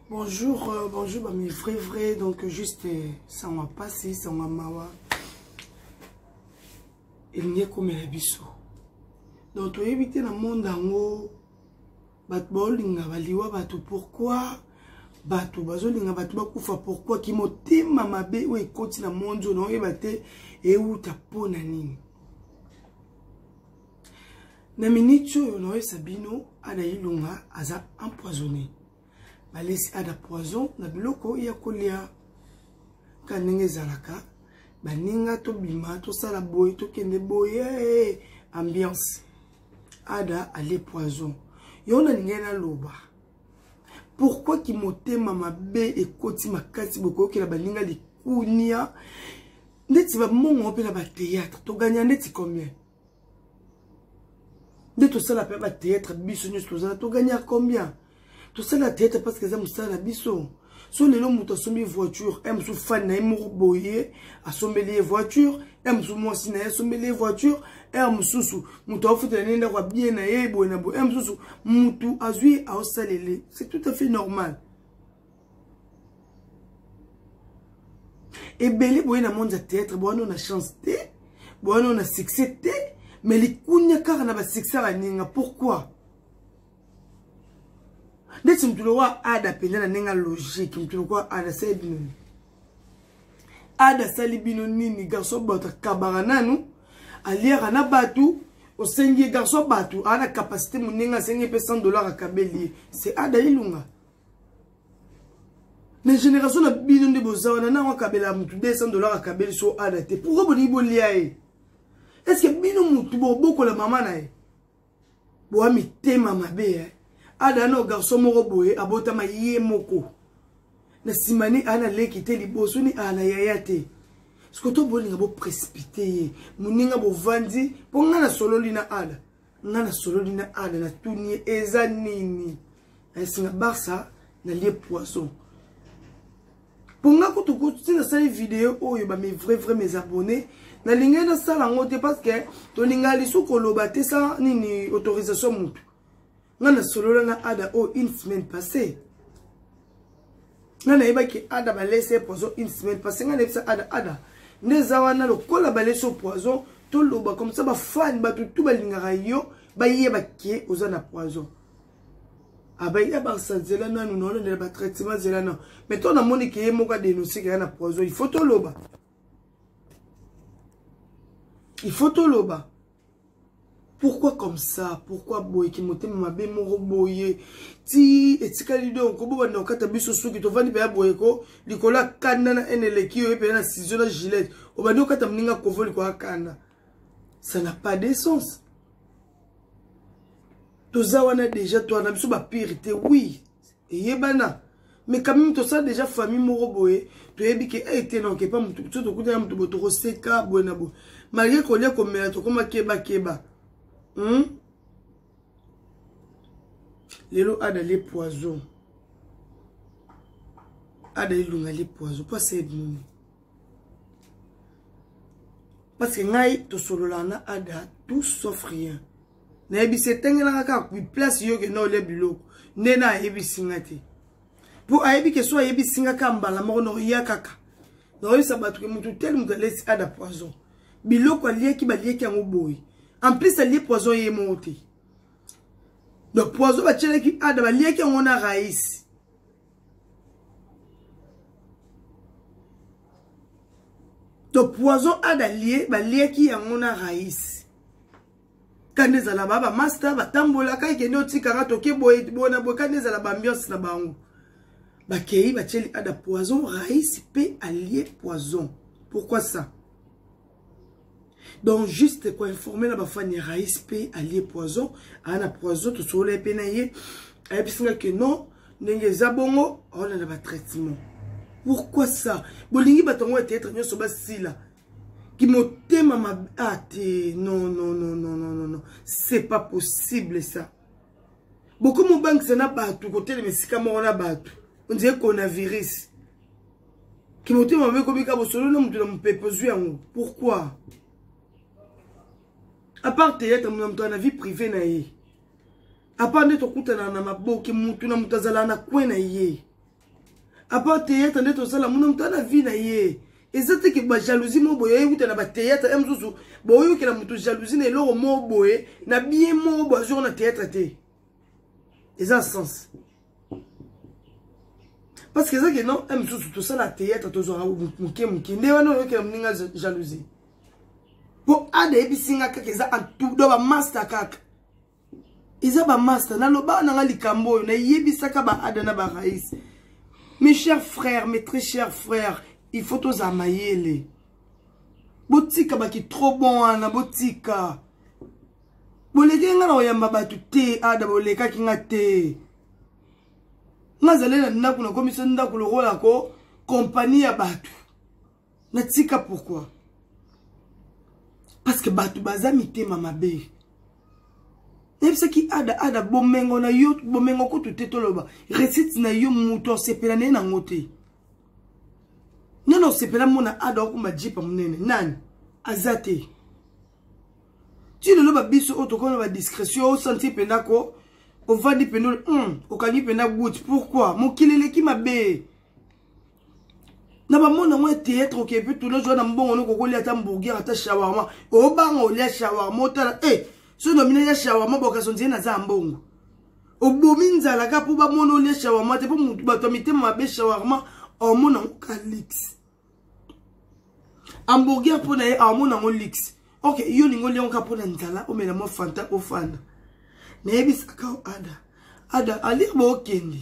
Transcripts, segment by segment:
bonjour euh, bonjour bami vrai vrai donc juste euh, sango ya mpasi sango ya mawa elingi ekomela biso donc toyebi te na monde yango bato baolinga baliwa bato pourkui bato bazolinga bato bakufa pourkui kimotema mabe oyo ekoti na monde oyo naoyeba te euta mpo na nini na miniti oyo naoyebisa bino ada ilunga aza empoisonné balesi ada poison na biloko ya kolia ka ndenge ezalaka baninga tobima tosala boye tokende boye eh, eh, ambiance ada alie poison yo nalingai naloba pourkui kimotema mabe ekoti makasi bokoyokela baninga likunia ndeti bamongo mpe na bateatre toganya ndeti combien nde tosala mpe ba théâtre biso nyonso tozala togagna combien tosala théâtre parce que eza mosala na biso so lelo moto asombi voiture e mosusu fani na ye moko boye asombeli ye voiture e mosusu mwasi na ye asombeli ye voiture e mosusu moto aofutela nde ndako abie na ye boye na boye e mosusu motu azwi aosalele c'est tout à fait normal ebele boye na monde ya théâtre bowana na chance te bowana na succès te mais likunya kaka na basuccès ya baninga pourquoi ndeti motu lokola ada mpenza na ndenge ya logique motu lokola ada asali bino nini ada asali bino nini garso bato akabaka nanu aliaka na bato osengi ye garso bato aa na capacité monenge asengi ye mpe 100 dollar akabeli ye se ada ilunga na génération na bino nde boza wana nango akabela motu 200 dollar akabeli so ana te pourkoi bolingi bolia ye estce bino motu bobokola mama na ye boa mitema mabe e eh? ada na garçon moko boye abotama ye moko na nsima ni ana leki te liboso ni ana yaya te sikoto bolinga boprecipite ye moninga bovandi mpo ngai nasololi na ana nga nasololi na ana natuni ye eza nini esinga barça nalie poison mpo nga kutu kutu ti nasali video oyo bame vrai vrai mes abonnés nalingai nasala yango te parce que tolinga lisu koloba te sa nini autorisation motu nga nasolola na ada oyo une semaine passée nga nayebaki ada balesi ye poison une semaine parce nga nayebisa ada ada nde eza wana lokola balesi yo poison toloba comme ça bafani bato tu balingaka yo bayeba ke oza na poison abayi ah, abakisa nzela nanu naolondela batraitement nzela nanu mais to namoni ke ye moko adenonse ke ya na poison il faut toloba il faut toloba pourquoi comme ça pourquoi boye kimotema mabe moko boye ti etikali donc kobobanda kokata biso suki tovandi mpenza boye ko likolo ya kanda na ene eleki oyo mpenza na sizio na gilete obandi kokata moninga kovo likolo ya kanda ça n'a pas de sens toza wana déjà toana biso bapire te oui eyebana mais quand même tosala déjà famille moko boye toyebi ke eye eh, te noke epa motu so tokutana motu boye tokoseka boye na boye malgre kolia komela tokoma kebakeba hmm? lelo ada le poison ada elunga le poison mpo asayebi nini parce que ngai tosololaka na ada tout sauf rien nayebisi etengelaka kaka place yo okenda olia biloko nde na ayebisi nga te mpo ayebi ke so ayebisi nga kaka mbala moko naoya kaka nakoyebisa bato ke motu tele moto alesi ada poison biloko aliaki baliaki yango boye en plus alie poison ye moko te donc poison batielaki ada baliaki yango na raisi to poison ada lie baliaki yango na raisi kanda ezala ba bamasta batambolaka ekende otikanga toke boye boye na boye kanda ezala baambiance na bango bakei batieli ada poison raïs mpe alie poison pourquoi ça donc juste koinforme na bafani ya raïs mpe alie poison aa na poison tosolola ye mpe na ye ayebisi nga ke non ndenge eza bongo aolanda batraitement pourquoi ça bolingi bato yango ya théâtre nyonso basila kimotema mabe ah te non non non non non non c'est pas possible ça bokomi obangisa na bato kotelema esika moko na bato ondire coronavirus kimotema mabe komika bosolo na moto na mopepe ozwi yango pourquoi apart teyatre mona moto na vie privé na ye apart nde tokutana na maboke motu na moto azalaka na kwe na ye apart théâtre nde tosala mona moto ana vie na ye eza te ke bajalousie moko boye euta na bathéâtre ya mosusu boyokela moto jalousie na eloko moko boye na bien moko boye azwaka na théâtre te eza sens parce que eza ke non ya mosusu tosala théâtre tozwaka moke moke nde wana oyokela moninga jalousie mpo ada eyebisi nga kaka eza do bamasta kaka eza ba master na loba na nga likambo oyo na yebisaka ba ada na ba rais mes chers frères mes très chers frères il faut toza mayele botika baki trop bon wana botika boleki nga na koyamba bato te ada bolekaki nga te nga azali na ndako nakomisa ndako lokola ko kompani ya bato na tika pourquoi parce que bato baza mitema mabe nayebisaki ada ada bomengo na yo bomengo kutu te toloba recite na yo moto osepela na ye nango te nani osepela mona ada okoma jipa monene nani aza te ti lelo babiso oyo tokona badiscrétion osanti mpenza ko ovandi mpenza mm, okangi mpenza gout pourquoi mokili eleki mabe na bamoni yango ya théâtre okepe tuna zwa na mbongo noko kolia ata mburger ata shawarma obanga olia shawarma otala e eh, soki nomina ya shawarma bokaso nzee naza ya mbongo obomi nzala ka mpo bamoni olia shawarma te mpo bato ya mitema mabe shawarma omona yango ka lix hamburger mpo na ye amona yango lix ok yo olingi olia yango ka mpo na nzala omela mwa fanta ofanda nayebisaka o ada ada alia bookende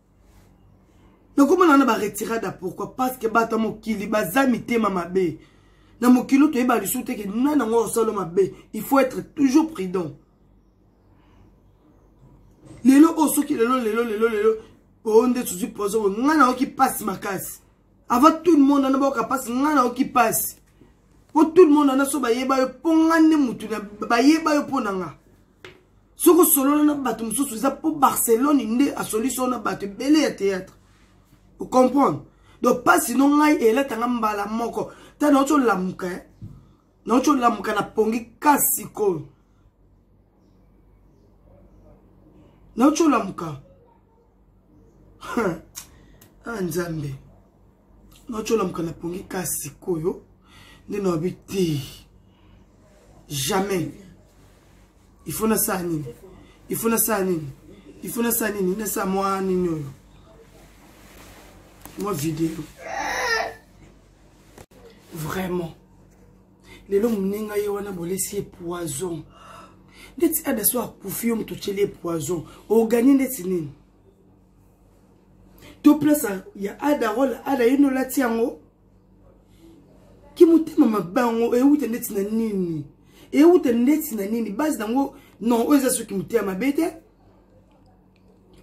nakomona wana baretirada pourkui parce que bato ya mokili baza mitema mabe na mokili oyo toyeba lisusu te ke nani yango osalo mabe il faut être toujours prudent lelo oyo oh, soki lelo lelo lelo lelo oyo oh, nde tozwi pozo oyo ngai nayoki mpasi makasi avant tout le monde wana bayoka mpasi ngai nayoki mpasi mpo tout le monde wana so bayeba yo mpo ngai nde motu bayeba yo mpo na ngai soki osolola na bato mosusu eza mpo barcelone nde asolisi yo na bato ebele ya théâtre ocomprendre donc mpasi no ngai elatanga mbala moko ta nauti olamuka eh? nauti olamuka na pongi kasi sikoyo nauti olamuka ah nzambe nacolamuka na pongi ka sikoyo nde nawabi te jamais il faut nasala nini il faut nasala nini il faut nasala nini nasala mwa nini oyo mwa video vraiment lelo moninga ye wana bolesi ye poison ndeti adaso akufi yo moto otyeli ye poison oganie ndeti nini to place ya ada role ada ye no lati yango ki motema mabango ewuta ndeti na nini ewuta ndeti na nini base nango non oyo eza soki motema mabe te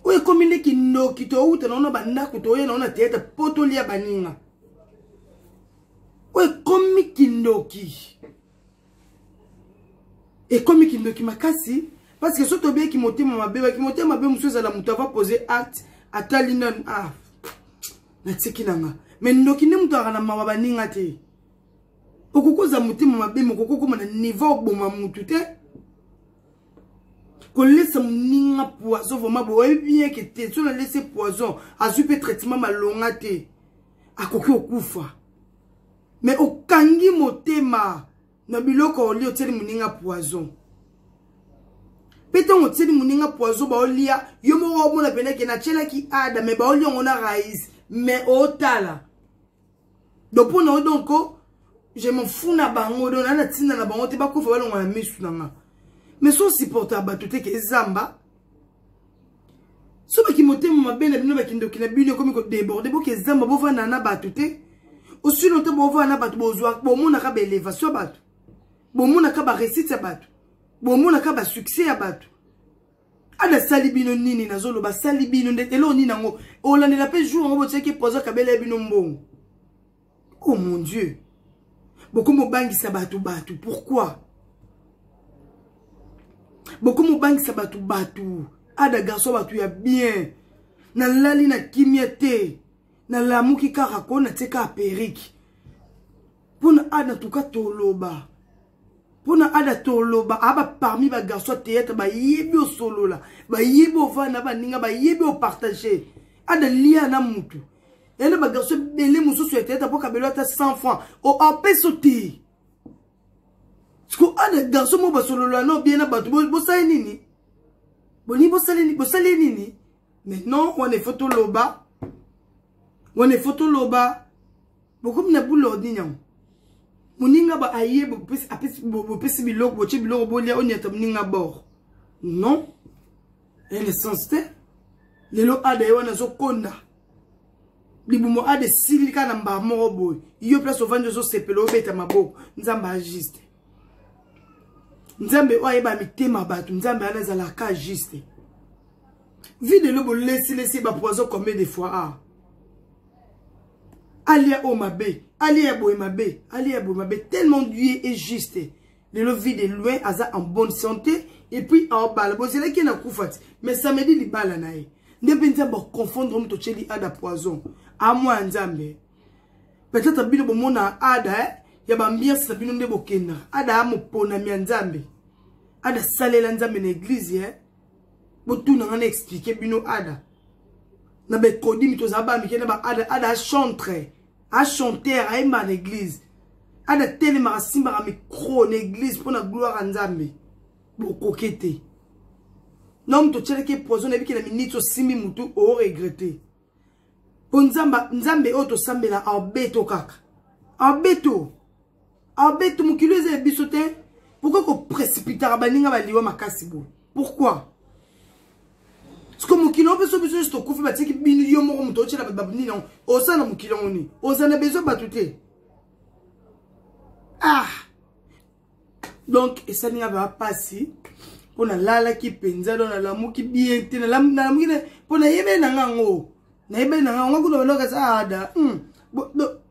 oyo ekomi nde kindoki towuta nango na bandako toye nango na teatre mpo tolia baninga oyo ekomi kindoki ekomi kindoki makasi parce que soki tobeyaki motema mabe baki motema mabe mosusu ezala moto ava pose acte atali nanu ah natiki na nga me ndoki nde moto azalaka na mawa baninga te okoki kozala motema mabe me okoki okoma na niveau oboma motu te kolesa moninga poison vraimen boyebi bien ke te so nalesi poison azwi mpe traitement malonga te akoki okufa mais okangi motema na biloko olia otieli moninga poison mpe ntango otieli moninga poison baolia yo moko omona mpenza ke natyelaki ada me baolia yango na raise me otala donc mpo na yo donc je m'en fous na bango donc naa na ntina na bango te bakufa balongola misu na nga mais so supporta bato te ke ezamba so bakimotema mabe na bino bakindoki na bino ekomi kodeborde bokezamba bovanda na bato te osi lontan bovanda na bato bozwa bomonaka baelevation ya bato bomonaka baresite ya bato bomonaka basuccès ya bato ana asali bino nini nazoloba asali bino nde eloko nini yango olandela mpe jour yango botiaki poza kabela ya bino mbongo oh mon dieu bokomobangisa bato bato pourquoi bokomobangisa bato bato ada garçon bato ya bien nalali na kimia te nalamuki kaka ko natie kaka perike mpo na ada tuka toloba mpo na ada toloba aba parmi bagarçon ya théâtre bayebi osolola bayebi ovanda baninga bayebi opartage ada lia na motu ena ba garçon ebele mosusu ya teyata mpo kabelo ata 100 franc opeso te siko ana garçon moko basolola no bien na bato bosali nini bolingi bosali nini mais non wana efo toloba wana efo toloba bokomi na boule ordine yango moninga ba aye bopesi biloko botie biloko bolia onyata moninga bor non eye na sens te lelo ada ye wana azokonda libumo ada esili kaka na mbaa moko boye yo place ovandi ozosepela obeta maboko nzambe ajuste nzambe oyo ayeba mitema bato nzambe wana ezalaka juste vie de lobo lesilesi bapoison combien de fois a ah. alia oyo mabe alia ya boye mabe alia ya boye mabe tellement dieu est juste lelo vie de loin aza en bonne santé et puis aobala bozelaki ye na kufa ti mais samedi libala na ye nde mpe nzambe aconfondre moto otyeli ada poison amwa ya nzambe peut-être bino bomona ada eh? ya bambiance na bino nde bokenda ada ya moponami ya nzambe ada asalela nzambe na eglize eh? botuna ngai na explike bino ada na baekodimi tozala bamike na baada ada achantre a chanter ayemba na église ada telema asimbaka micro na église mpo na gloire ya nzambe bokoke te na moto otyelaki poison nayebi ke na miniti osimbi motu oregrete mpo nzambe oyo tosambela abeto kaka abeto abeti mokili eza ya biso te pourkoi koprecipitaka baninga baliwa makasi boye pourkoi siko mokili yango biso biso nyonso tokufi batiki bino yo moko moto otyela bababini nango oza na mokili yango nini oza na besoin bato te ah donc esali nga baa mpasi mpo nalalaki mpenza do nalamuki bien te nalamuki mpo nayebeli na nga yango nayebeli na ngai yango kuna bandoka eza ada hmm.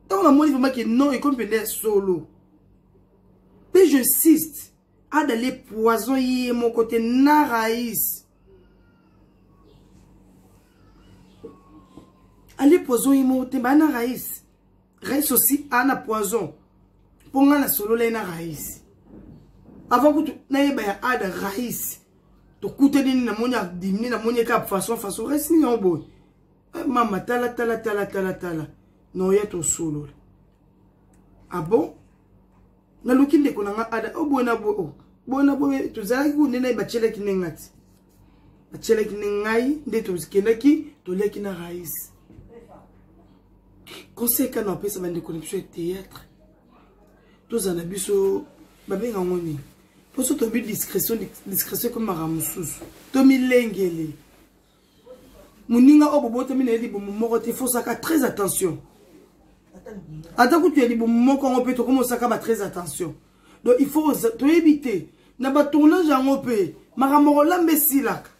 ntango namoni vraimen ke non ekomi mpenza ya solo mpe je insiste ada le poison ye moko te na rais ale poison ye moko te baa na rais rais aussi aa na poison mpo ngai nasololai na rais avant kutu nayeba ya ada rais tokutani nini namoni adimini namoni eka façon façon resi nini yango boye eh, mama tala tala tala tala tala noya tosolola abo ah naluki ndeko na nga ada o oh, boye na boye o oh, boye na boye tozalaki ku nde naye batyelaki nde nga ti batyelaki nde ngai nde tokendaki tolyaki na raïs conseil kano apesa bandeko na biso ya théâtre tozala na biso babenga ngo nini mposo tobi discrétion discrétion ekomaka mosusu tomilengele moninga oyo bobotami na ye libumu moko te fosaka très attention ata kutu ya libumu moko yango mpe tokomosaka ba très attention donc il faut toyebi te na batournage yango mpe makambo kolamba esilaka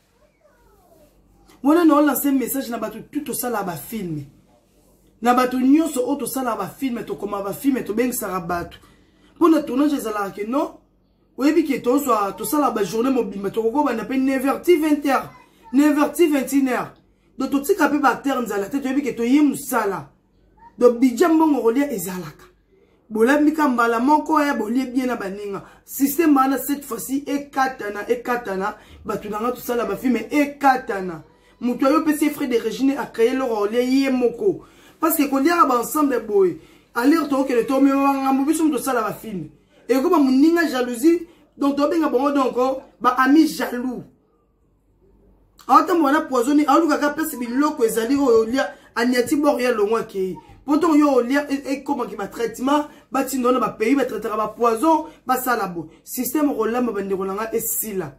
wana na olanse message na bato tu tosalaka bafilme na bato nyonso oyo tosalaka bafilme tokomaka bafilme tobengisaka bato mpo na tournage ezalaka ke non oyebi ke tozwa tosalaka bajournée mobimba tokokobanda mpe 9h ti 20h 9h ti 21h donc totika mpe baacteur nzala te toyebi ke toye mosala do budget mbongo kolia ezalaka bolambi ka mbala moko ya bolie bien na baninga système wana cette fois-ci ekatana ekatana bato na nga tosala bafilme ekatana moto ayo opesi ye frais de regine acreye eloko aolia ye moko parce que koliaka baensemble boye alire tokokende tomema bangambo biso moto tosala bafilme ekoma moninga jalousie donc tobenga bango donc baami jaloux aotamba wana poisoni aoluka kaka place biloko ezali oyo olia aniati bor ya longo akei mpo ntongo yo olia e, ekomaki batraitement batinda wana bapays batraitaka bapoison basala bo systeme okolamba bandeko na ngai esila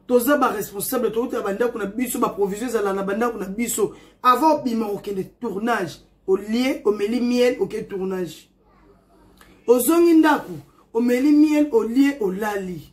toza baresponsable toutaka bandako na biso baprovision ezala na bandako na biso avant obima kokende tournage olie omeli miel oke tournage ozongi ndako omeli miel olie olali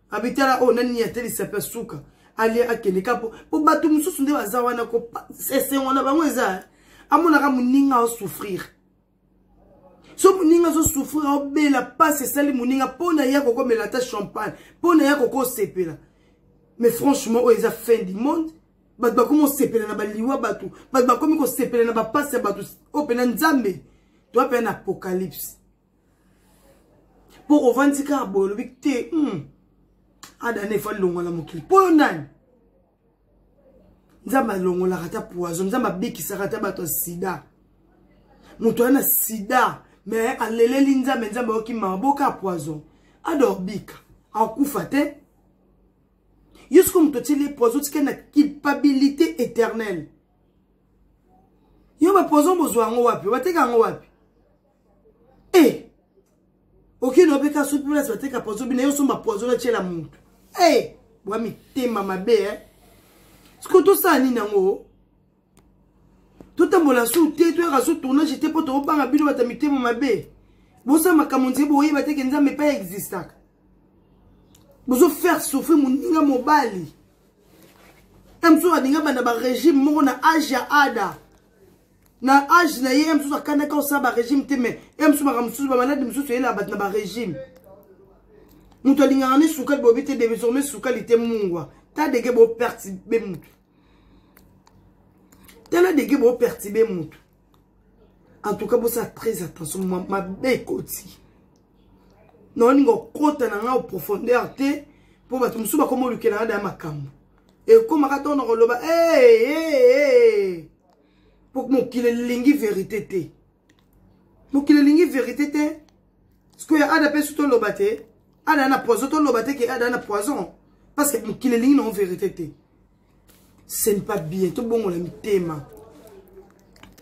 abitala oyo oh, nani nini atelisa mpe suka alia akende ka po po bato mosusu nde baza wana esengo na bango eza eh. amonaka moninga asouffrir so moninga azosouffrir aobela mpasi esali moninga mpo na ye akokomela ata champagne mpo na ye akokosepela mais franchement oyo eza fin du monde bato bakomi kosepela na baliwa bato bato bakomi kosepela na bapasi ya bato oyo mpena nzambe toa mpena na apocalypse mpo ovandi kaka boye olobi te hmm. adana efali longola mokili mpo yo nani nzambe alongolaka ata poison nzambe abikisaka ata bato ya sida moto aza na sida me aleleli nzambe nzambe ayoki mawa boka poison adobika akufa te yo siko moto otyeli poison otika na culpabilité éternelle yo bapoison bozwa yango wapi bateka yango wapi e eh! okende obeka soki place bateka poison bina yo osomba poison otyela motu e eh! bwa mitema mabe e sikoyo tosala nini yango totambola su te toyaka su tournage te mpo tokobanga bino bata mitema mabe bosala makambo nzeye boyeba teke nzambe epai existaka bozo faire souffrir moninga mobali mso alinga banda barégime moko na age ya ada na age na ye ye mosusu akandaki osala barégime te mais ye mosusu makambo mosusu bamaladi mosusu eyelaka bato na barégime moto alingaka ni sukali bobi te désormais sukali te mungwa ta dege bopertibe motu tala dege bopertibe motu en tout cas bosala très attention mabe ekoti naolinga okota na ngai oprofondeur te mpo bato mosusu bakoma olukela ngai da makambo ekomaka ntango na koloba ee hey, hey, hey. po mokili elingi verite te mokili elingi verite te sikoyo ada mpe so toloba te ada na poison toloba te ke ada na poison parce que mokili elingi nango verite te ce n'est pas bien tobongola mitema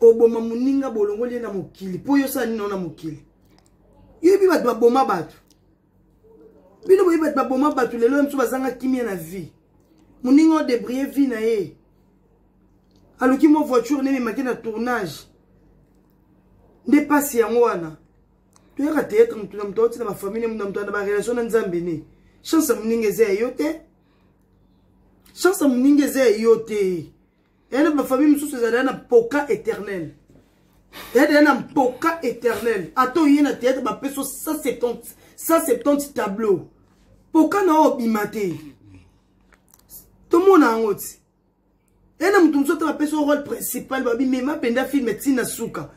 oboma moninga bolongoli ye na mokili mpo yo osala nini na mokili yo yebi bato baboma bato bino boyebi bato baboma bato lelo ya mosusu bazanga kimia na vie moninga oyo debrie vie na ye aluki mwa voiture nde ememaki na tournage nde mpasi yango wana toyaka teyatre motu na moto auti na bafamille na moto na barelation na nzambe ne chance ya moninga eza ya yo te chance ya moninga eza ya yo te eya na bafamille mosusu ezalaya na mpoka éternel eya deya na mpoka éternel ata oye na théâtre bapeso 170 tableau mpoka na oyo obima te tomona yango ti eya na moto mosusu ata bapesi yo role principal babimema mpenza filme ntina suka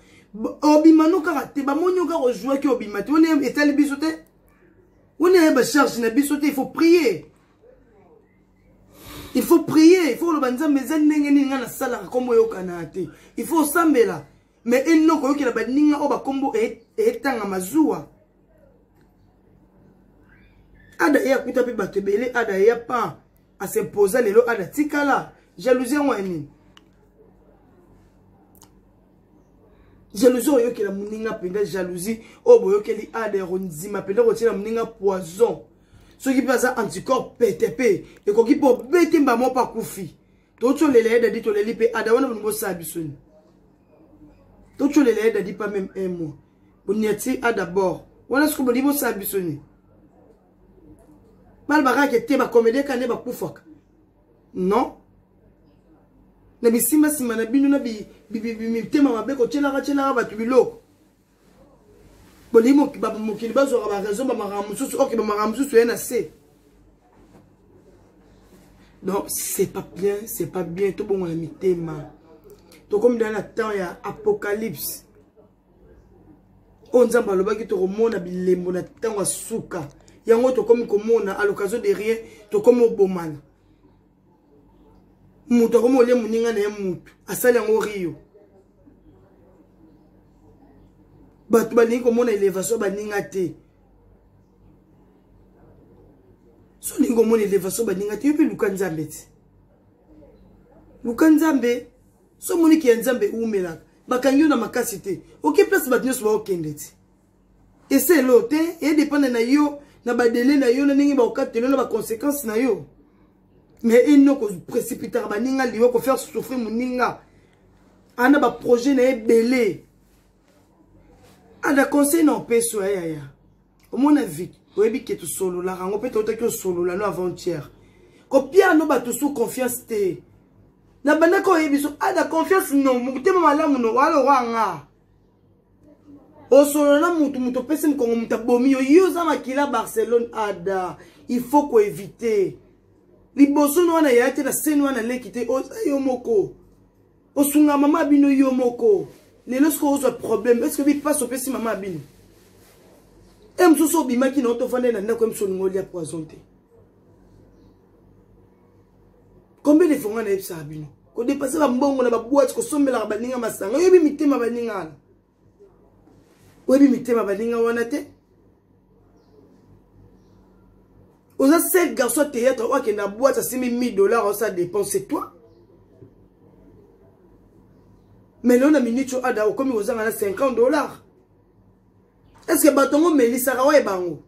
obima no kaka te bamoni yo kaka ojuaki obima te wana etali biso te wana ya bacharge na biso te il faut prier il faut prier il faut oloba nzambe eza ndenge nini ngai nasalaka nkombo oyokana te il faut osambela me eno koyokela baninga oyo bakombo etangama zuwa ada ye akuta mpe bato ebele ada ye pan asempoza lelo ada tikala jalousie yango ya nini jalousie oyokela moninga mpenza jalousie oyo boyokeli ada ya kondima mpenza kotyela moninga poison soki mpe aza anticorps pete mpe ekoki mpe obeti mbamo mpe akufi totyolela ye dadi toleli mpe ada wana bolingo osala biso ni totyolela ye dadi mpa meme un mois boniati a d'abord wana soki bolingi bosala biso ni balobaka ke te bakomedien kane bakufaka non na bisimbasimba na bino na mitema mabe kotyelaka tyelaka bato biloko bolingi mokili bazwaka baraison bamakambo mosusu oke bamakambo mosusu ye na se donc c'est pas bien c'est pas bien tobongola mitema tokomi dala na temps ya apocalypse oyo nzambe alobaki tokomona bilembo na ntango ya suka yango tokomi komona à l'occasion de rien tokomi obomana moto akomi olie moninga na ye motu asali yango rio bato balingi komona elevation ya baninga te so olingi komona elevation ya baninga te yo mpe luka nzambe ti luka nzambe so omoniki ya nzambe eumelaka bakangi yo na makasi te oke place bato nyonso baokende ti esa elo te edepende na yo na badele na yo na ndenge bakokatelo na baconséquence na yo mais eno koprécipitaka baninga liwa kofaire souffrir moninga ana baprojet na ye ebele ada conseil na opesi oya yaya omona vite oyebi ke tosololaka yango mpe toutaki osolola no avant-hier kopia no bato sous confiance te na bandaki oyebi so ada confiance no motema malamu no walokwanga osolola na mutu mutu opesi mokongo moto abomi yo yo oza makila barcelone ada il faut koevite liboso no wana yaya te na seni wana leki te oza yo moko osunga mama ya bino yo moko lelo soki ozwa problème eske obi mpasi opesi mama ya bino e mosusu obimaki na yo tovandai na ndako ye mosusu olingi olia poison te combien de fois nga nayebisaka bino kodepase bambongo na babwati kosombelaka baninga masanga oyebi mitema baninga wana oyebi mitema baninga wana te oza seul garçon ya théâtre oyo akenda bwati asimi 1000 dollars osa dépense c'est toi mais lelo na minute oyo ada okomi kozanga na 50 dollars est ce que bato yango omelisaka waye bango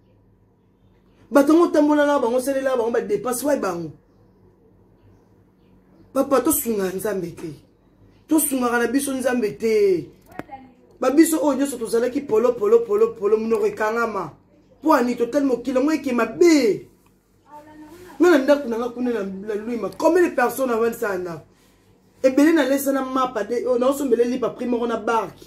bato yango otambola na bango osalela bango badepense wai bango papa tosungaka nzambe te tosungaka na biso nzambe te babiso oyo nyonso tozalaki polopolopolopolo monoko ekangama mpo ani totali mokili yango eke mabe nga na ndako na nga kuna na luima combien de personne avandisa na ndako ebele nalesa na mapa de oyo oh, naosombele lipa prix moko na barke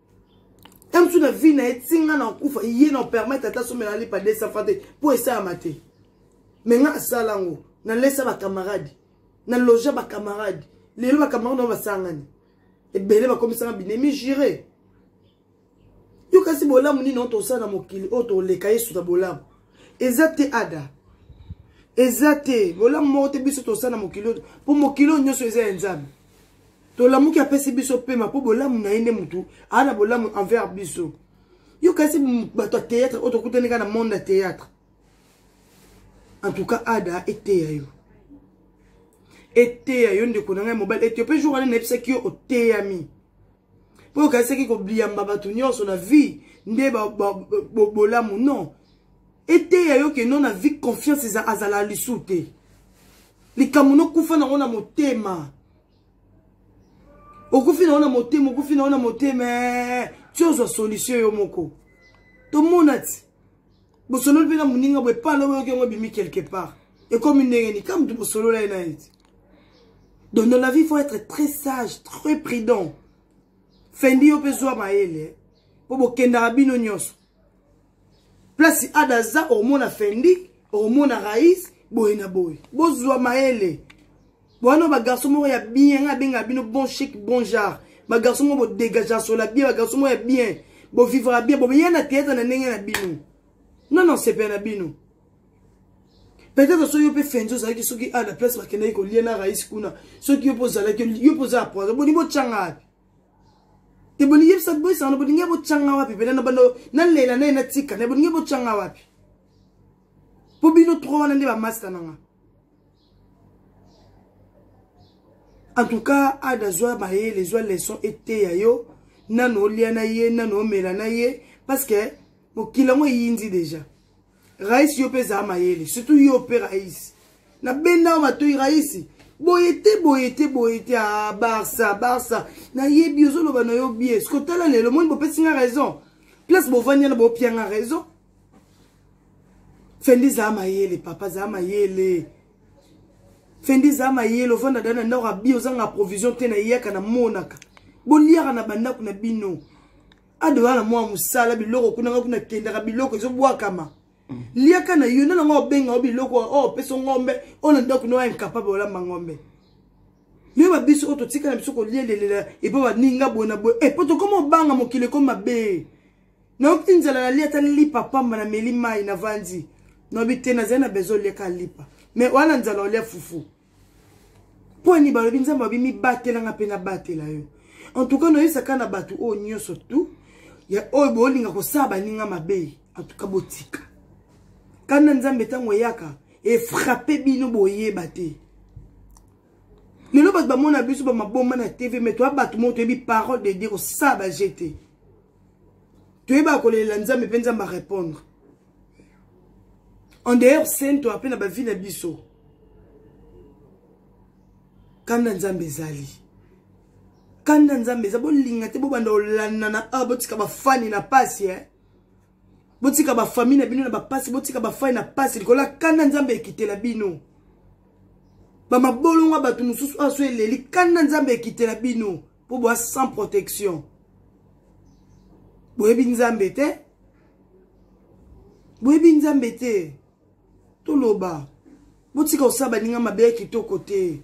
ntango mosusu na vie na ye ntinga na kufa ye na permettre ata somi na lipa 200 franc te mpo esalama te me nga asala yango nalesa bacamarade na loja bacamarade lelo bacamarade nao basangani ebele bakomisanga binemi jure yo kasi bolamu nini oyo tosala na mokili oyo toleka yesu na bolamu eza te ada eza te bolamu moko te biso tosala na mokili oyo mpo mokili oyo nyonso eza ya nzambe tolamuki apesi biso pema mpo bolamu na ye nde motu aa na bolamu envers biso yo kasi bato ya théâtre oyo tokutani kaka na monde ya théâtre en tout cas ada eteya yo eteya yo ndeko na ngai mobali eteyo mpe jour wana nayebisaki yo oteyami mpo okanisaki kobliyamba bato nyonso na vie nde bolamu non eteya yo ke no na vie confiance azala lisu te likambo nokufa nango na motema okufi nango na motema okufi nango na motema eh, ti ozwa solution yo moko tomona ti bosololi mpe na moninga boye pala oyoki yango ebimi quelque part ekomi ndenge ni ka moto bosolola ye na ye ti donc dans la vie faut être très sage très prudent fendi yo mpe zwa mayele mpo bokendaka bino nyonso place ada aza omona fendi omona rais boye na boye bozwa mayele wana bagarso moko ya bien nga abenga bino bon chic bon genre bagarso moko bodegage asola bien bagarso moko ya bien bovivaka bien bobeya na théâtre na ndenge na bino nga na osepela na bino peut-être soki yo mpe fenzi ozalaki soki a na place bakendaki kolia na rais kuna soki yo mpe ozalaki yo mpe oza ya poison boni botyanga wapi te bolingi yebisa boyisana na bolingi botyanga wapi mpena na bando nalela naye natika na bolingi botyanga wapi mpo bino tro wana nde bamasta na nga en tout cas ada zwa mayele zwa leçon eteya yo nano olya na ye nano omela na ye parce que mokili yango eyindi deja raisi yo mpe ezala mayele surtout yo mpe raisi na benda yo matoi raisi boye te boye te boye te a ah, barsa barsa nayebi ozoloba na yo bie soki otala lelo moni bopesi nga raison place bovandi yana bopia nga raison fendi zaa mayele papa zaa mayele fendi zaa mayele ovanda da na ndako abi ozanga provision te na eyaka na monaka boliaka na bandako na bino ado wana mwa mosala biloko kuna nga kuna kendaka biloko ezobwakama mm. liaka na yo nana nga obenga o biloko oyo oh, opesa ngombe oyo na ndako noya incapable olamba ngombe yo babiso oyo totika na biso kolielelela epo baninga boye na boye epo eh, tokoma obanga mokili eko mabe nayoki nzala nalia ata lipa pamba na meli mai na vanzi nayebi te nazali na bezo oliaka lipa me wana nzala olia fufu mpo ani balobi nzambe abi mibatela nga mpe nabatela yo en tout cas noyesaka na bato oyo nyonso tu ya oyo bolinga kosala baninga mabe en tout cas botika kanda nzambe ntango eyaka efrape bino boyeba te lelo bato bamona biso bamabomba na tv me toya bato moko toyebi parole de dieu kosala baje te toyebaka kolelela nzambe mpe nzambe arépondre en dehors saint oyo mpe na bavi na biso kanda nzambe ezali kanda nzambe eza bolinga te bobanda kolandana awa ah, botika bafani na pasi eh? botika bafamille na bino na bapasi botika bafani na pasi likolo ya kanda nzambe ekitela bino bamabolongo ya bato mosusu awa ah, so eleli kanda nzambe ekitela bino mpo boa sans protection boyebi nzambe te boyebi nzambe te toloba botika kosala baninga mabe ya kitoko te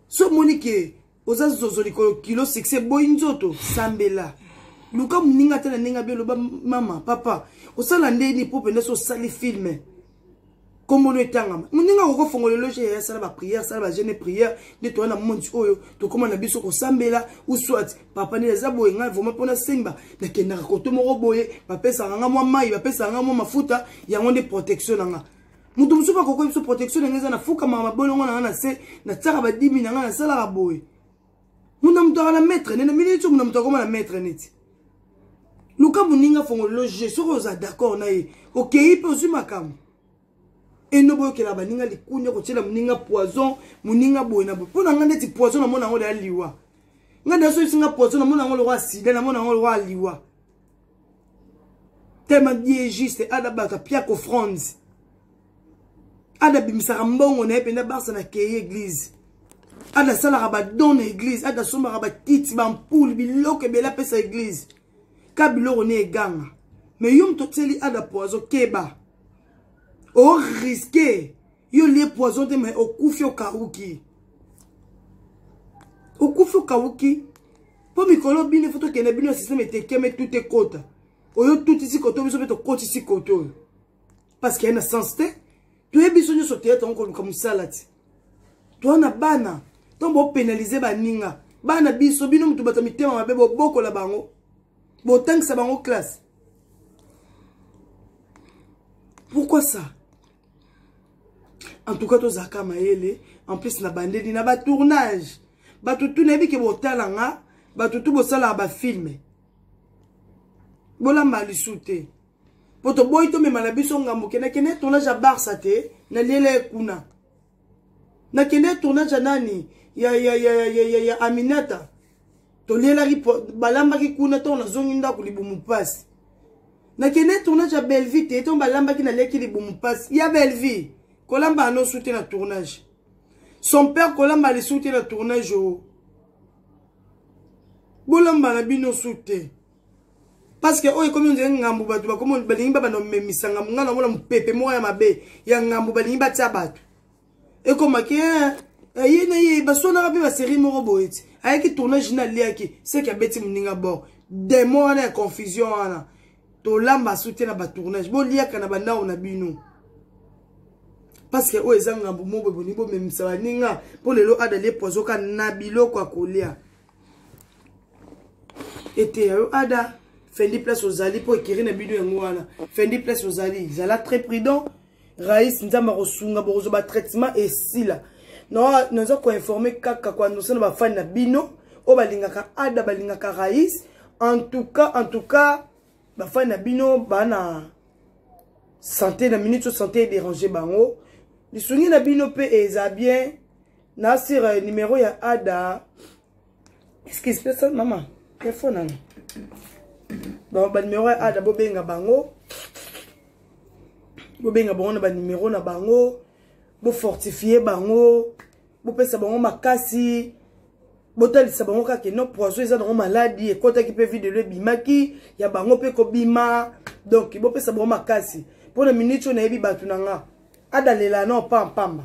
so omoni ke oza zozo likolo kilo succès boyi nzoto sambela luka moninga ata na ndenge abioloba mama papa osala nde nini mpo mpenza so osali filme kombono etangama moninga akoko fongola eloge yaya sala bapriere sala bagene priere nde toya na mondi oyo tokóma na biso kosambela ou soit papa nde eza boye ngai vraimen mpona semba nakendaka koto moko boye bapesaka nga mwa mai bapesaka nga mwa mafuta yango nde protection na nga moto mosusu akokoya biso protection na ngai eza na fukamaka mabolongo na ngai na se natiaka badimi na ngai nasalaka boye muna moto aka na maître nene mini ti muna moto akoma na maître neti luka moninga fongolelo je soki oza d'accord na ye okei mpe ozwi makambo eno boyokela baninga likunya kotyela moninga poison moninga boye na boye mpo na ngai ndeti poison namona yango deya liwa ngai deya soki singa poison namona yango lokwa sida namona yango lokwa liwa tellement bien juste ada baka pia ko fronds ada bimisaka mbongo na ye mpenza barsa na keye église ada asalaka badon na église ada asombaka bakiti bampule biloko ebele apesa église ka biloko ne eganga me yo moto otyeli ada poizo keba oriske yo lie poison te mais okufi okauki okufi okauki mpo mikolo bino efo tokende bino ya systeme etekeme tute ekota oyo tutisi koto biso mpe tokotisi koto oyo parce que ya na sens te toyebi biso nyonso teyata yango koluka mosala te toa na bana ntango bopenalize baninga bana biso bino moto bato mitema mabe bobokola bango botangisa bango classe pourquoi ça en tout cas tozalaka mayele en plus na bandeli na batournage bato tu nayebi ke botala nga bato tu bosalaka bafilme bolamba lisu te mpo toboyi tomema na biso ngambo kendakende tournage ya barsa te naliela ye kuna na kende tournage ya nani ya ya ya ya ya, ya, ya Aminata tolielaki balambaki kuna ntango nazongi ndako libumu mpasi nakende tournage ya bellevie te ntango balambaki naleki libumu mpasi ya bellevie kolamba anosu te na tournage son père kolamba alisu te na tournage o bolamba na bino su te parce que oyo ekomi ondire ngambu bato bakomi balingi babanda komemisa ngambu ngai namona mopepe moko ya mabe ya ngambu balingi batya bato ekomaki eh, eh, ye na ye basonaka mpe baserie moko boye ti ayaki tournage na aliaki seke abeti moninga bor demo wana ya confusion wana tolamba asu te na batournage boliaka na bandako na bino parce que oyo eza ngambu moko boye bolingi bomemisa baninga mpo lelo adalie poizoka na biloko ya kolia eteya yo ada fendi place ozali mpo ekiri na bino yango wana fendi place ozali zala très prudent rais nzambe akosunga bokozwa batraitement esila naza koinforme kaka koannonce na bafani na bino oyo balingaka ada balingaka rais en tout cas en tout cas bafani na bino baa na sante na minute oyo sante edérange bango lisungi na bino mpe eza bien na sur euh, numero ya ada excuse pesa mama telefone nanga donc banumero ya ada bobenga bango bobenga bango na banumero na bango bofortifie bango bopesa bango makasi botalisa bango kaka no poison eza nango maladi ekotaki mpe videlo ebimaki ya bango mpe kobima donk bopesa bango makasi mpo na miniti oyo nayebi bato na nga adalela no pampamba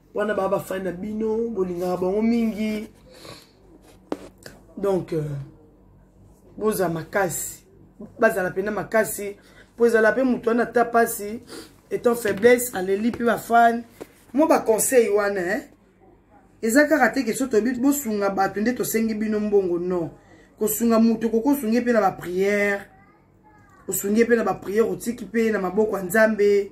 wana baa bafani na bino bolingaka bango mingi donc euh, bozala makasi bazala mpena makasi mpo ezala mpe moto wana ata mpasi etant faiblesse aleli mpe bafani mwa baconseil wana eh? eza kaka te ke so toyebi bosunga bato nde tosengi bino mbongo non kosunga moto koki osungi mpe na bapriere osungi mpe na bapriere otiki mpe na maboko ya nzambe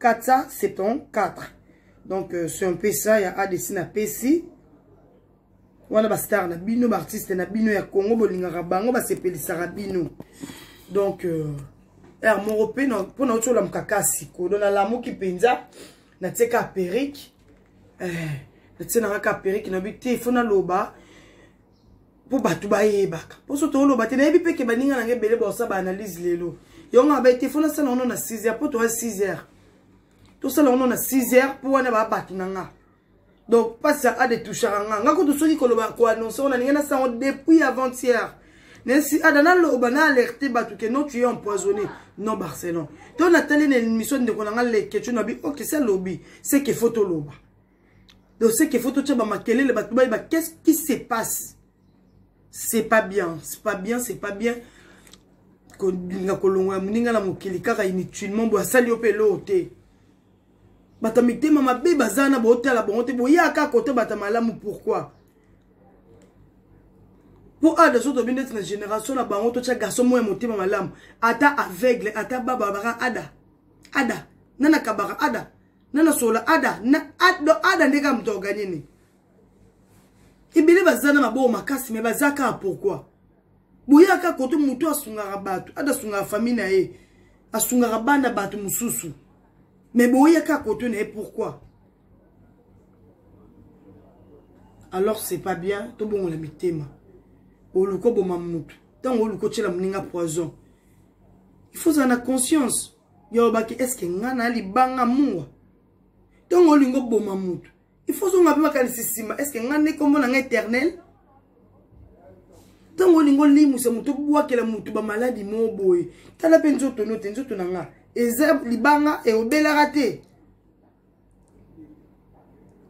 474 donc euh, c'est un peu ça ya adc na pesi wana bastar na bino baartiste na bino ya congo bolingaka bango basepelisaka bino donc euh, er moko mpe mpo nauti olamuka kasi kodo nalamuki mpenza natie ka perike eh, natie nanga ka perike nabi te fo naloba mpo bato bayebaka mposo toloba te nayebi mpe ke baninga nanga ebele baosa baanalyse lelo yango aba ete fo nasala yango na 6 heures mpo toya 6 heures tosala yango na 6 heures mpo wana baa bato na nga donc mpasi aka de touchaka nga nga kutu soki koloba koannonce ngo na ndenge nasala yango depuis avant-hier nesi ada naloba na alerte bato ke non tu es empoisonné non barcelone to natali na émission ndeko na nga leketio na bi ok se alobi se ke fo toloba de ce qu'il faut totia ba makelele bato bayeba qu'est-ce qui se passe c'est pas bien c'est pas bien c'est pas bien kolinga kolongola moninga na mokili kaka inutilement boye asali yo mpe eloo te bato ya mitema mabe baza na bootala bango te boyaka kote bato ya malamu pourkui mpo awa daso tobi ndeti na génération na bango totya garçon moko ya motema malamu ata aveugle ata baba baka ada ada nana kabaka ada nana solola ada na ada, ada nde kaka moto aganye nini ebele baza na maboko makasi me baza kaka pourkui boyaka kote motu asungaka bato ada asungaka famille na ye asungaka bana bato mosusu me boyaka kote na ye pourkui alors c'est pas bien tobongola mitema oluka oboma motu ntango oluka otyela moninga poison il faut ozala na conscience yo olobaki eske nga na libanga mua ntongo olingi oboma motu il faut ozonga mpe makanisi nsima eske nga nde nkombo na nga éternel ntango olingi olimwisa motu obwakela motu bamaladi moo boye tala mpe nzoto no te nzoto na nga eza libanga eobelaka te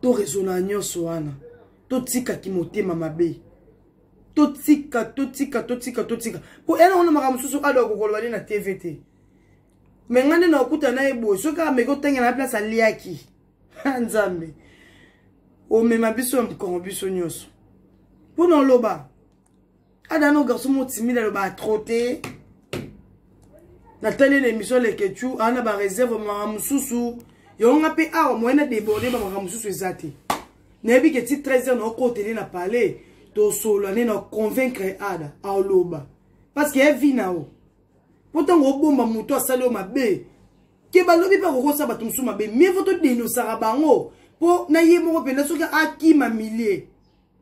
torezona nyonso wana totika kimotema mabe totika totika totika totika mpo ena wana makambo mosusu ado akokoloba nde na tv te me ngai nde nakokuta na ye boye soki ameki otangela na place aliaki nzambe omema biso ya mokongo biso nyonso mpo na oloba ada no garçon mo timide alobaka trop te natali na émission lekechu aa na bareserve makambo mosusu yango nga mpe awa moye na deborde bamakambo mosusu eza te nayebi ke ti 13 heure naokotele na palais tosolola nde na convaincre ada aoloba parce que evi na yo mpo ntango obomba moto asali yo mabe ke balobi mpe akokosa bato mosusu mabe mie fo todenosaka bango mpo na ye moko mpenza soki akima milie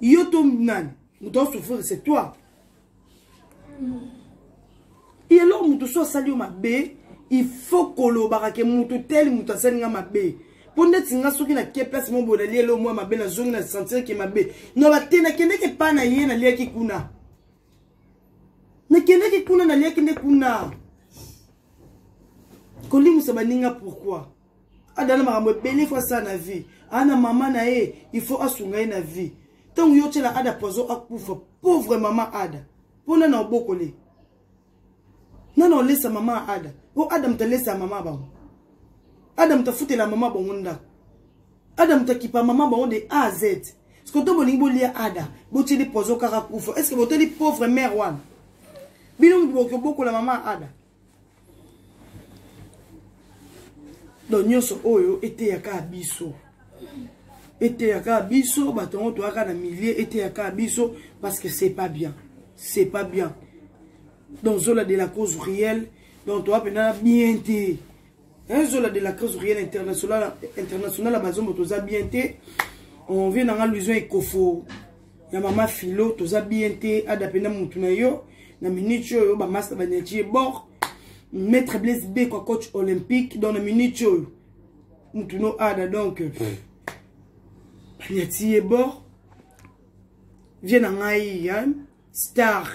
yo to nani moto asouffrir c'est toi ye eloko moto so asali yo mabe il faut kolobaka ke moto tele moto asali nga mabe mpo ndeti nga soki nake place mo boye nalie elo mwa mabe nazongi na sentir ke mabe no bate nakendeki epa na ye naliaki kuna nakendeki kuna naliaki nde kuna kolimwisa baninga pourkui adana makambo ebele fo asala na vie ana mama na ye il faut asunga ye na vie ntango yo otyela ada poison akufa pauvre mama ada mpo nana obokole nana olesa mama ya ada mpo ada moto alesa ya mama bango ada moto afutela mama bango ndako ada moto akipa mama bango de a a z siko to bolingi bolia ada botyeli poison kaka kufa estce botali pauvre mare wana bino moto bokoki obokola mama ya ada donc nyonso oyo eteyaka biso eteyaka biso bato yango toyaka na milieu eteyaka biso parce que c'est pas bien c'est pas bien donc zola de la cause réelle donc toya mpenza na bien te un zola de la crise rien international international bazombo toza bien te on vient nanga lusion ekofo ya mama filo toza bien te ada pena mutu na yo na minute oyo bamasta baniati ye bord maître blaise beko coach olympique donc na minute oyo mutu no ada donc hmm. baniati ye bord vie na ngai star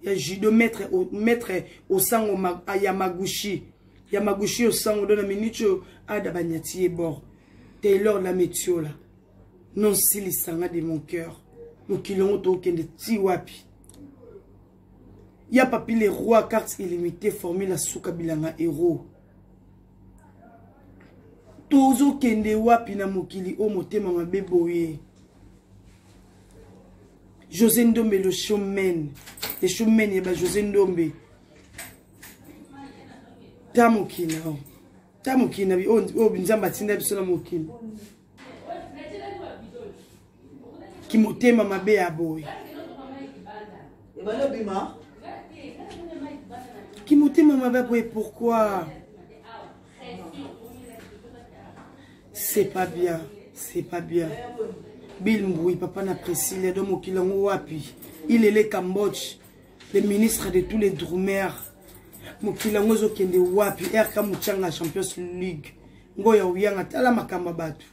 ya judo maître maître osango ma, ah, ya magushi ya magushi osango do na minute oyo ada banyati ye bord taylor la metiola non silisanga de mon cœur mokili yango tokende ti wapi ya papi le roi carte illimité formule asuka bilanga hero tozokende wapi na mokili oyo motema mabe boye josé ndombe le showman le showman ya ba josé ndombe ta mokili na yo ta mokili na bi oyo nzambe atinda biso na mokili kimotema mabe ya boye kimotema mabe ya boye pourquoi c'est pas bien c'est pas bien bill mbui papa na priscille ado mokili yango wapi il est le cambodge le ministre de tous les drumer mokili yango ezokende wapi rk mochanga champions league ngo ya oyanga tala makambo ya bato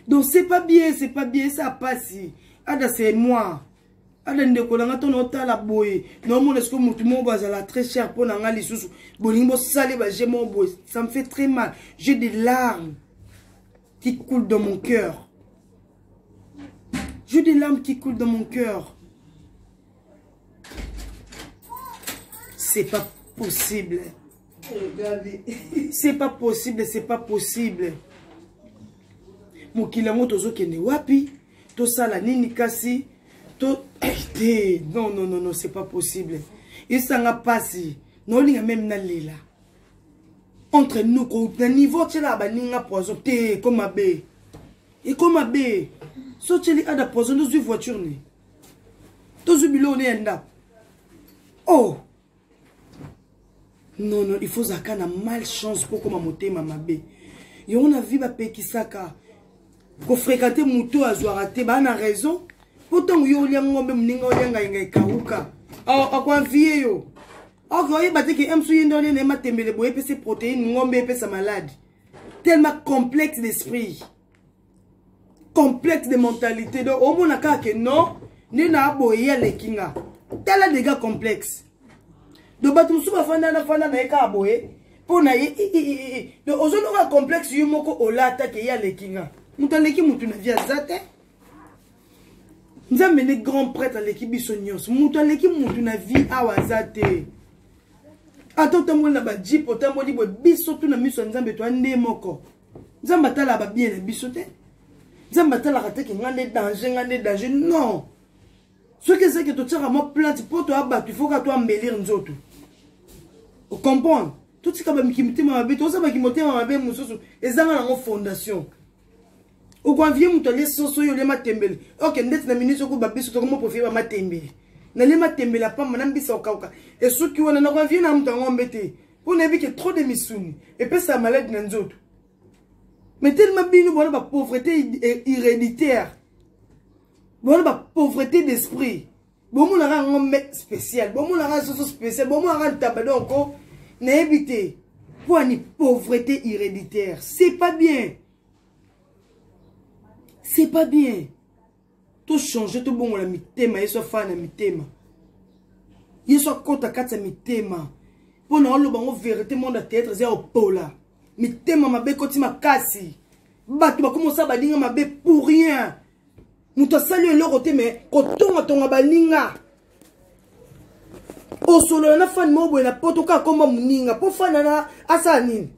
donc c'est pas bien c'est pas bien esa pasi ada c'est moi ada ndeko na nga to naotala boye naomona esiko motu moko boye azala très cher mpo na nga lisusu bolingi bosale baje moko boye ça me fait très mal j'ai des larmes qui coulent dans mon cœur j'ai des larmes qui coulent dans mon cœur c'est pas possible c'est pas possible c'est pas possible mokili yango tozokende wapi tosala nini kasi to eh, te non non non non c'est pas possible esanga mpasi naolinga meme nalela entre nous ko na niveau otyelaka baninga poison te eko mabe eko mabe so otyeli ada poison tozwi voiture ne tozwi biloko ne ya ndako oh non non il faut ozalaka na mal chance mpo okoma motema mabe yango na vie bapekisaka kofrekante moto oyo azwaka te baa na raison mpo ntango yo olia ngombe moninga olia ngainga ekauka akoavie yo oke oyeba te ke emsu ye nde olia na ye matembele boye epesi protéine ngombe epesa malade tellement complexe d'esprit complète de mentalité donc omona kaka ke non nde na boye ye aleki nga tala dega complexe donc bato mosusu bafanda nafanda na ye kaka boye mpo na ye donc ozoloka complexe yo moko olata ke ye aleki nga moto aleki motu na vie aza te nzambe nde grand prêtre aleki biso nyonso moto aleki motu na vie awa aza te ata otamboli na bajipe otamboli boye biso tu na miso ya nzambe toya nde moko nzambe atala ba bien na biso te nzambe atalaka te ke ngai nde danger ngai nde danger non soki ezaki totiaka mwa plante mpo toya bato ifoka to ambelir nzoto ocomprendre totika bamiki mitema mabe toza baki motema mabe mosusu ezanga nango fondation okoinvie moto alie soso yo olie matembele oke ndeti na minisi okoba biso tokomi oprofie bamatembele nalie matembele apamba na mbisa okauka esuki wana nakoinvie na moto yango mbe te Mpo nayebi ke trop de misuni epesa maladi na nzoto. Mais tellement bino bona ba pauvreté héréditaire. Bona ba pauvreté d'esprit. Bomonaka yango me spécial. Bomonaka soso spécial. Bomonaka ntaba donc oh, nayebi te. Mpo ani pauvreté héréditaire. C'est pas bien. C'est pas bien. tochange tobongola mitema yesu afaa na mitema yesu akota kati ya mitema mpo na oloba yango verité monde ya théâtre eza ya opola mitema mabe ekoti makasi bato bakomi osala baninga mabe pour rien moto asali eloko te me kotongatonga baninga osolola na fani moko boye na poto kaka komba moninga mpo fani ana asala nini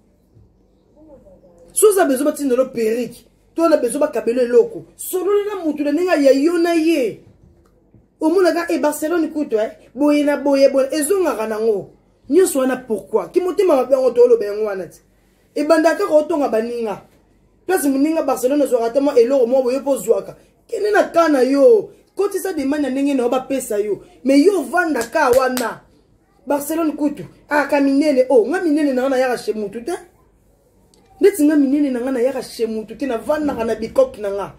soza bezo batindelo perike to na besoin bakabela eloko solola na motu na ndenge ya yo na ye omonaka e barcelone kutu e eh? boye na boye boye ezongaka nango nyonso wana pourkui kimotema mabe yango tooloba yango wana ti ebanda kaka otonga baninga place moninga barcelone ozwaka ata mwa eloko mwa boye mpo ozwaka kende na ka na yo kotisa demande ya ndenge na yo bapesa yo me yo ovanda ka wana barcelone kutu aka ah, minene o oh, nga minene nanga nayaka chez mutu te ndeti nga minene na nga nayaka chez mutu te navandaka na bikoke na nga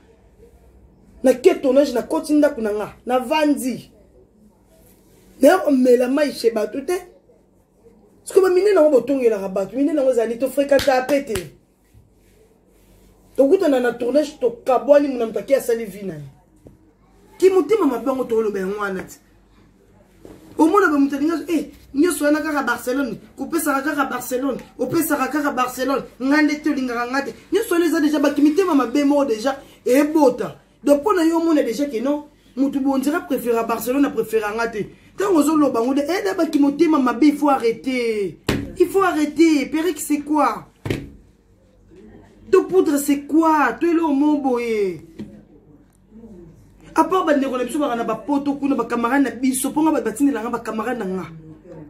na ke tournage nakoti ndako na nga navandi naye komela mai chez bato te sikoyo baminene yango botongelaka bato minene yango ezali tofrekantaka mpe te tokutana na tournage tokabwani mona moto ake asali vi na ye kimotema mabe yango toloba yango wana ti omona ba moto alingi e nyonso wana kaka barcelone kopesaka kaka barcelone opesaka kaka barcelone ngai nde te olingaka ngai te nyonso wana eza deja bakimitema mabe moko deja ebota donc mpo na yo omona deja ke non moto bondira préféra barcelone apréféra ngai te ntango ozoloba yango de eda eh, bakimotema mabe il faut arrêter il faut arrêter periki c'est quoi to poudre c'est quoi to eloko moko boye apart bandeko na biso baka na bapoto kuna bakamarade na biso mpo nga bato batindela nga bakamarade na nga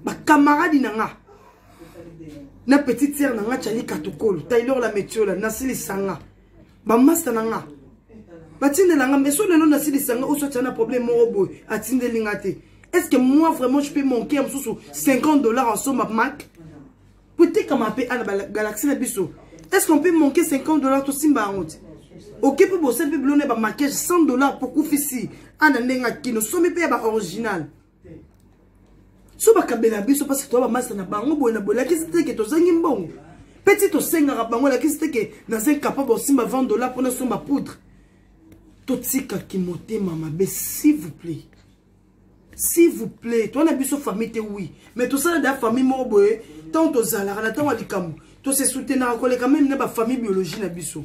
bakamaradi na nga na petite sere na nga cali katukolo taylor la metiola nasilisa nga bamasta na nga batindela nga meso lelo nasilisa nga oso atya na problème moko boye atindeli nga te est ce que moi vraiment je peux manquer ya mosusu 50 dollars en somme mac po etekama mpe ana galaxie na biso est ce qu'on peut manquer 50 dollars tosimba yango te oke mpe bosali mpe bilona ya bamaquage 100 dollars pokufisi ana ndenge akino somi mpe ya baoriginal so bakabela biso mpasi toya bamasa na bango boye na boye lakisi te ke tozangi mbongo mpe ti tosengaka bango lakisi te ke naza incapable osimba 20 dollar mpo nasomba poudre totika kimotema mabe s'il vous plaît s'il vous plaît toza na biso famille te oui mais tosala da famille moko boye ntango tozalaka na ntango ya likambo tosesoutenaka koleka meme na bafamille biologie na biso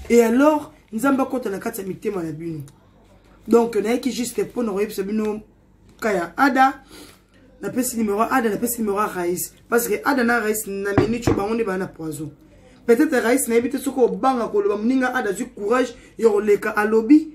et alors nzambe akota na kati ya mitema na bino donc nayaki juste mpo na koyebisa bino ka ya ada napesi numero ada napesi numero ya rais parce que ada na rais na minute oyo bango nde baa na poison peut-être rais nayebi te soki obanga koloba moninga ada azwi courage ya koleka alobi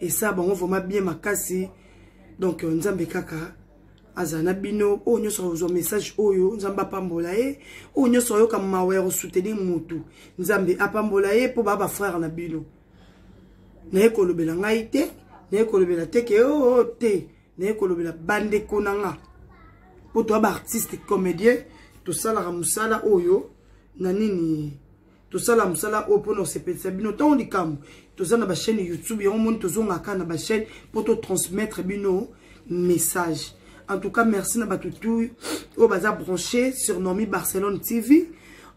esa bango vraiment bien makasi donc euh, nzambe kaka azala na bino oyo nyonso akozwa message oyo nzambe apambola ye oyo nyonso ayoka mawa ya kosoutenir motu nzambe apambola ye mpo baa bafrere na bino naye kolobela ngai te naye kolobela te ke oo oh, oh, te naye kolobela bandeko na nga mpo toa baartiste comédien tosalaka mosala oyo na nini tosala mosala oyo mpona kosepelisa bino ntango likambo toza na bachaîne youtube yango moni tozongaka na bachaîne mpo totransmettre bino message en tout cas merci na bato tout oyo baza branché sur normi barcelone tv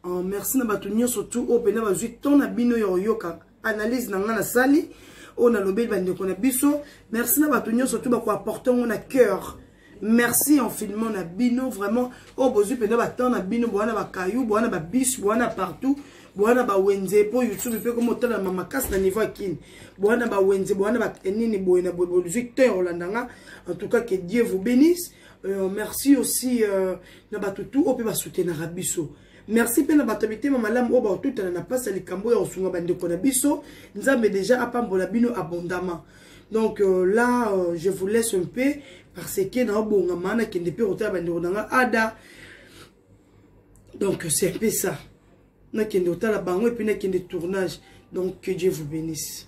uh, merci na bato nyonso tout oyo mpena bazwi temps na bino ya koyoka analyse na ngai nasali oyo nalobeli bandeko na biso merci na bato nyonso to bakoapporte yango na cœur merci infiniment na bino vraiment oyo oh, bozwi mpenza batemp na bino bowana bakayu bowana babis bowana partout bowana bawenze mpo youtube mpe koma otalama makasi na niveau ya kini bowana bawenze bowana banini boye na boye bozwi te olanda nga en tout cas que dieu vous bénisse euh, merci aussi euh, na bato tout oyo mpe basoutenaka biso merci mpe na bato ya mitema malamu oyo bakotutana na mpasi ya likambo ya kosunga bandeko na biso nzambe deja apambola bino abondamment donc euh, là euh, je vous laisse un peu parce que naobongama nakende mpe kotala bandeko na nga ada donc c'est un peu ça nakende kotala bango epuis nakende tournage donc que dieu vous bénisse